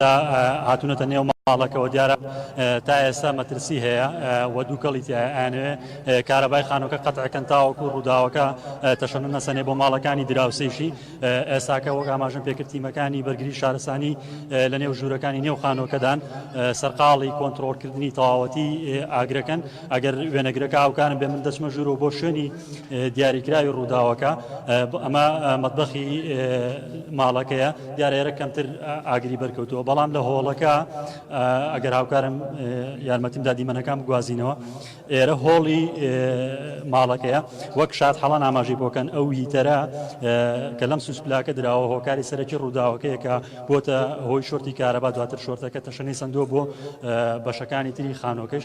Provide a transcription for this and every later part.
دا هاتونەتە نێو ماڵەکەوە دیارە تا ئێستا مەترسی هەیە و دووکەڵی تایە ئەیانەوێ کارەبای خانۆکە قەتعەکەن تاوەکو ڕووداوەکە تەشەنە نەسەنێ بۆ ماڵەکانی دراوسێشی ئێستاکە وەک ئاماژن پێکردتیمەکانی بەرگری شارستانی لە نێو ژوورەکانی نێو خانۆکەدان سەرقاڵی کۆنتترۆلکردنی تەواوەتی ئاگرەکەن ئەگەر وێنەگرەکە ئاوکارن بێ من دەچمە ژوور و بۆ شوێنی دیاریکراوی ڕووداوەکە ئەمە مەتبەخی ماڵەکەیە دیارە ئێرە کەمتر ئاگری بەرکەوتووە بەڵام لە هۆڵەکە ئەگەر هاوکارم یارمەتیم دادیمەنەکان بگوازینەوە ئێرە هۆڵی ماڵەکەیە وەک شاد حەڵان ئاماژی بۆکەن ئەو هیتەرە کە لەم سوسپلاکە دراوە هۆکاری سەرەکی ڕووداوەکەیە کە بۆتە هۆی شۆرتی کارەبا دواتر شۆرتەکە تەشەنەی سندوە بۆ بەشەکانی تری خانۆکەش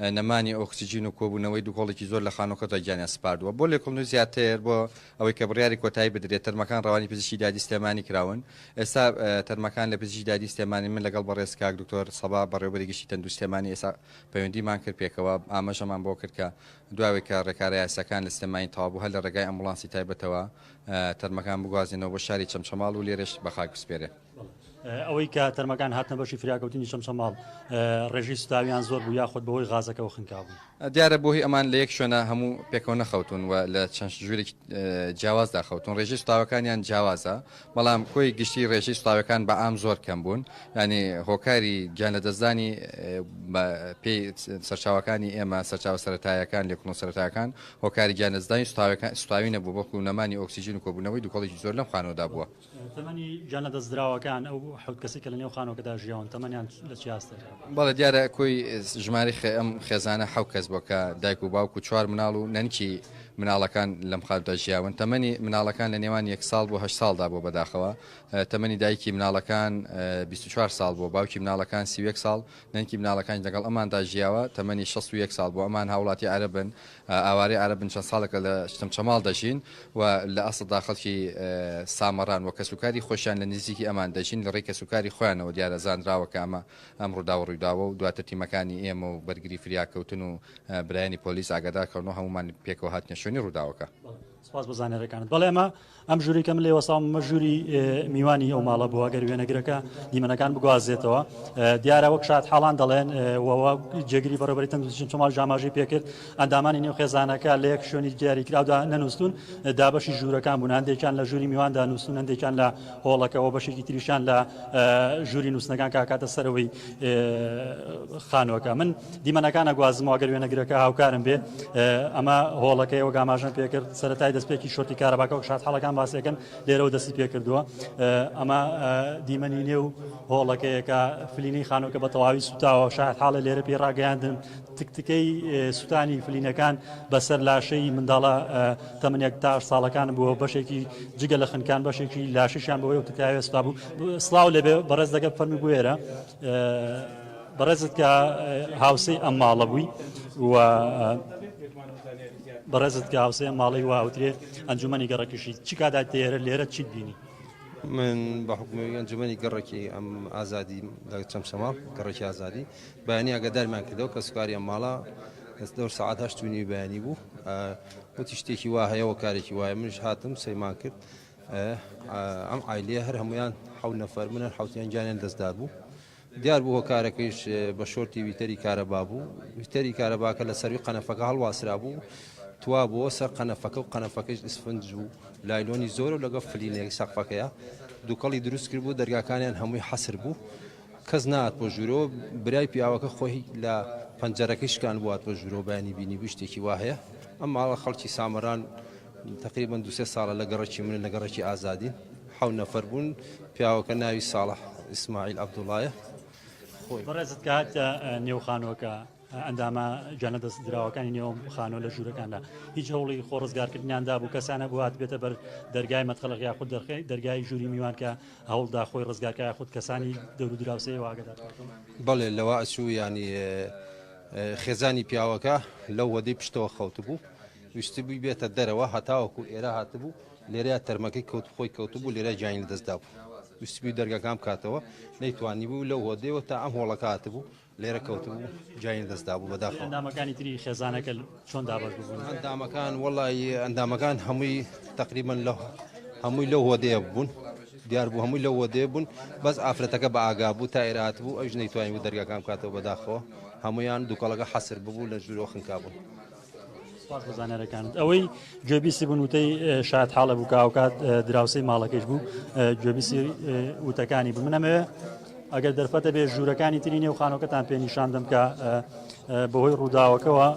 نەمانی ئۆکسجین و کۆبوونەوەی دوکۆڵێکی زۆر لە خانووەکەدا گیانیان سپاردووە. بۆ لێکوڵنەوەی زیاتر بۆ ئەوەی کە بڕیاری کۆتایی بدرێت تەرمەکان ڕەوانەی پزیشکی دادی سلێمانی کراون. ئێستا تەرمەکان لە پزیشکی دادی سلێمانین من لەگەڵ بەڕێز کاک دکتۆر سەبا بەڕێوەبەری گشتی تەندروستی سلێمانی ئێستا پەیوەندیمان کرد پێکەوە ئاماژەمان بۆ کرد کە دوای ئەوەی کە ڕێکارە یاسیەکان لە سلێمانی تەواو بوو هەر لە ڕێگای ئەمبوڵانسی تایبەتەوە تەرمەکان بگوازێنەوە بۆ شاری چەمچەماڵ و لێرەش بە خاک بسپێرێن. ئەوەی کە تەرمەکان هاتنە بەشی فریاکەوتنی چەمچەماڵ ڕێژەی سوتاویان زۆر بوو یاخود بەهۆی غازەکەوە خنکابوون؟ دیارە بۆهی ئەمان لە یەک شوێنە هەموو پێکەوە نەخەوتوون و لە چەند ژوورێکی جیاوازدا خەوتوون، ڕێژەی سوتاوەکانیان جیاوازە، بەڵام کۆی گشتی ڕێژەی سوتاوەکان بە عام زۆر کەم بوون، یانی هۆکاری گیان لەدەستدانی بە پێی سەرچاوەکانی ئێمە، سەرچاوە سەرەتایەکان، لێکوڵە سەرەتایەکان، هۆکاری گیان لەدەستدانی سوتاوی نەبووە، بەڵکو نەمانی ئۆکسیجین و کۆبوونەوەی دوکەڵێکی زۆر لەم خانووەدا بووە. تەمەنی گیان لەدەستدراوەکان ئەو حەوت کەسی کە لە نێو خانۆکەدا ژیاون تەمەنیان لە چیاستێ بەڵێ دیارە کۆی ژماری ئەم خێزانە حەو کەس بۆ کە دایک و باوک و چوار مناڵ و نەنکی مناڵەکان لەم خارودا ژیاون تەمەنی مناڵەکان لە نێوان یەک ساڵ بۆ هە ساڵدا بۆ بەداخەوە تەمەنی دایکی مناڵەکان 24 ساڵ بۆ باوکی مناڵەکان سیوەک ساڵ نەنکی مناڵەکان لەگەڵ ئەماندا ژیاوە تەمەنی 16 ساڵ بۆ ئەمان هاوڵاتی عربن ئاوارەی عەرەب بن چەند ساڵێکە لە چەمچەماڵ دەژین و لە ئەسڵدا خەڵکی سامەڕان و کەسوکاری خۆشیان لە نزیکی ئەمان دەژین لە ڕێی کەسوکاری خۆیانەوە دیارە زانراوە کە ئەمە ئەم ڕووداوە ڕوویداوە و دواتر تیمەکانی ئێمە و بەرگری فریاکەوتن و برایانی پۆلیس ئاگادار کەونەوە هەمومان پێکەوە هاتنە شوێنی ڕووداوەکە. سپاس بۆ زانیاریەکانت بەڵێ ئەمە ئەم ژووری کە من لێی وەستاوم مە ژووری میوانی ئەو ماڵە بووە گەر وێنەگرەکە دیمەنەکان بگوازێتەوە دیارە وەک شاد حاڵان دەڵێن وەوە جێگری بەڕێبەری تەندروستیشن چۆماڵ ژاماژەی پێکرد ئەندامانی نێو خێزانەکە لە یەک شوێنی دیاری کراودا نەنووسون دابەشی ژوورەکان بوون هەندێکیان لە ژووری میواندا نووسون هەندێکیان لە هۆڵەکەەوە بەشێکی تریشان لە ژووری نووسنەکان کاکاتە سەرەوەی خانوەکە من دیمەنەکان ئەگوازمەوە گەر وێنەگرەکە هاوکارم بێ ئەمە هۆڵەکەی ئەو گاماژن پێکرد سەرەتای دەستپێکی شۆتی کارەباکە و شاد حڵەکان باسیەکەن لێرەوە دەستی پێکردووە ئەمە دیمەنی نێ و هۆڵەکەیەکە فلینی خانۆکە بە تەواوی سوتاوە شاد حاڵە لێرە پێ ڕاگەیاندن تکتکەی سووتانی فلینەکان بەسەر لاشەی منداڵە تەمنێک تا ساڵەکان بووە بەشێکی جگە لە خنکان بەشێکی لاشیان بەوەی و تکاوێستا بوو سلااو لەبێ بەڕێز دەگە فەرمی بوێرە بەڕێزت کە هاوسێی ئەم ماڵە بووی و بەڕێزت کە هاوسێ ماڵی واوترێ ئەنجومەنی گەڕەکیشی چ کادا تێرە لێرە چیت بینی من بە حکومی ئەنجومەنی گەڕکی ئەم ئازادی لە چەمچەما گەڕکی ئازادی بەیانی ئەگەدارمان کردەوە کە سوکاری ئەم ماڵە دەور سعات هەشتونی بەیانی بوو وتی شتێکی وا هەیەەوە کارێکی وایە منش هاتم سەیمان کرد ئەم ئایلێ هەر هەمویان حەو نەفەر منە حوتیان گیانیان دەستدار بوو دیار بوو هۆکارەکەیش بە شۆرتی ویتەری کارەبا بوو، ویتەری کارەباکە لە سەرووی قەنەفەکە هەڵواسرابوو توا بۆ سەر قەنەفەکە و قەنەفەکەش ئیسفنج و لایلۆنی زۆرە و لەگەڵ فلینێک سەقفەکەیا دوکەڵی دروست کردبوو، دەرگاکانیان هەمووی حەسر بوو کەس نەهات بۆ ژوورەوە، برای پیاوەکە خۆی لە پەنجەرەکەی شکاندبوو هات بۆ ژوورەوە بەیانی بینیبووی شتێکی وا هەیە، ئەم ماڵە خەڵکی سامەران. تەقریبەن دوو سێ ساڵە لە گەڕەکی منن لە گەڕەکی ئازادین حەو نەفەر بوون پیاوەکە ناوی ساڵح ئیسماعیل عەبدوڵایە خۆی بەڕێزت کات نێو خانۆکە ئەندامە جانە دەست دراوەکانی نێوم خانۆ لە ژوورەکاندا هیچ هەوڵی خۆ ڕزگارکردنیاندا بوو کەسانە بوات بێتە بەر دەرگای مەتخەلق یا خود دەرخی دەرگای ژووری میوان کە هەوڵدا خۆی ڕزگارکە خود کەسانی دەور دراوسێ واگەدا بەڵێ لەوە ئەچوو ینی خێزانی پیاوەکە لەو وەدەی پشتەوە خەوت بوو ویستبووی بێتە دەرەوە هەتاوەکو ئێرە هاتبوو لێرەیا تەرمەکەی کەوت خۆی کەوتبوو لێرە گیانی لەدەست دابوو ویستبووی دەرگاکان بکاتەوە نەیتوانی بوو لەو هۆدەیەوە تا ئەم هۆڵەکە هاتبوو لێرە کەوتبوو گیانی لەدەست دابوو بەداخەوە ئەندامەکانی تری خێزانەکە چۆن دابەش ببوون ئەندامەکان وەڵی ئەندامەکان هەمووی تقریبا لە هەمووی لەو هۆدەیە بوون دیار بوو هەمووی لەو هۆدەیە بوون بەس ئافرەتەکە بە ئاگا بوو تا ئێرە هاتبوو ئەوش نەیتوانی بوو دەرگاکان بکاتەوە بەداخەوە هەمویان دووکەڵەکە حەسر ببوو لە ژوورەوە خنکا بوون سپاس بۆ زانیارەکانت ئەوەی گوێبیسی بوون وتەی شاد حاڵە بوو کاوکات دراوسی ماڵەکەش بوو گوێبیسی وتەکانی بوو منەمەوێ ئەگەر دەرفەتە بێ ژوورەکانی تری نێو خانۆکەتان پێ نیشان دەم کە بەهۆی ڕووداوەکەەوە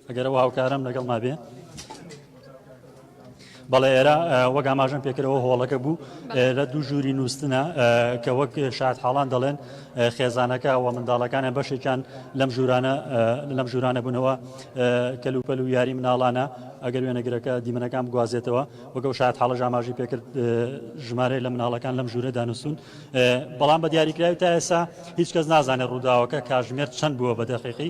ئەگەرەوە هاوکارم لەگەڵ مابێ بەڵێ ئێرە وەک ئاماژەم پێکردەوە هۆڵەکە بوو ئێرە دوو ژووری نووسنە کە وەک شاد حاڵان دەڵێن خێزانەکە و منداڵەکانیان بەشێکیان لەم ژورانە لەم ژورانە بوونەوە کەلوپەل و یاری مناڵانە ئەگەر وێنەگرەکە دیمەنەکان بگوازێتەوە وەگە و شاد حاڵە ژاماژی پێکرد ژمارە لە مناڵەکان لەم ژوورە دانووسون بەڵام بە دیاریکراوی تا ئێسا هیچ کەس نازانێت ڕووداوەکە کاژمێر چەند بووە بە دەقیقی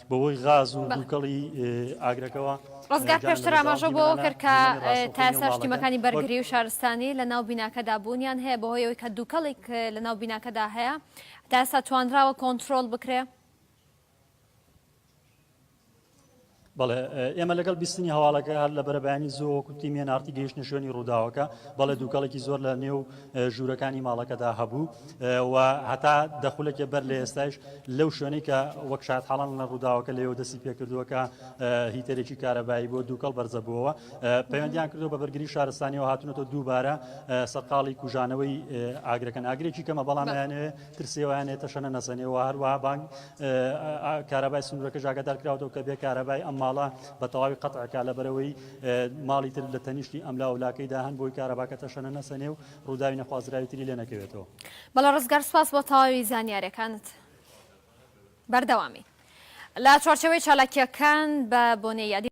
بەهۆی غاز و دووکەڵی ئاگرەکەوە. ڕزگار پێشتر ئاماژە بۆ ئەوە کرد کە تا ئێستاش تیمەکانی بەرگری و شارستانی لە ناو بیناکەدا بوونیان هەیە بەهۆی ئەوەی کە دووکەڵێک لە ناو بیناکەدا هەیە تا ئێستا توانراوە کۆنترۆڵ بکرێ. بەڵێ ئێمە لەگەڵ بیستنی هەواڵەکە هەر لە بەرەبیانی زوو وەکو تیمێن ئارتی گەیشتە شوێنی ڕووداوەکە بەڵێ دووکەڵێکی زۆر لە نێو ژوورەکانی ماڵەکەدا هەبوو. و هەتا دە خولەکێ بەر لە ئێستایش لەو شوێنەی کە وەک شادحاڵان لە ڕووداوەکە لەوێ دەستی پێکردووە کە هیتەرێکی کارەبایی بۆ دووکەڵ بەرزە بووەوە پەیوەندیان کردو بە بەرگری شارستانیەوە هاتونەتەوە دووبارە سەرقاڵی کوژانەوەی ئاگرەکەن ئاگرێکی کەمە بەڵام یانێ ترسێوانێ تەشەنە نەسەنێەوە هەروە بانگ کارەبای سنوورەکە ژاگەدار کراوەوە کە بێ کارەبای ئەم ماڵە بە تەواوی قەتعکە لە بەرەوەی ماڵی تر لە تەنیشتی ئەملا ولاکەیدا هەن بۆی کارەباکە تەشەنە نەسەنێ و ڕووداوی نەخوازراوی تری لێ نەکەوێتەوە. بەڵێ ڕزگار سوپاس بۆ تەواوی زانیارەکانت بەردەوامبی لە چوارچێوەی چالاکیەکان بە بۆنەی یادی.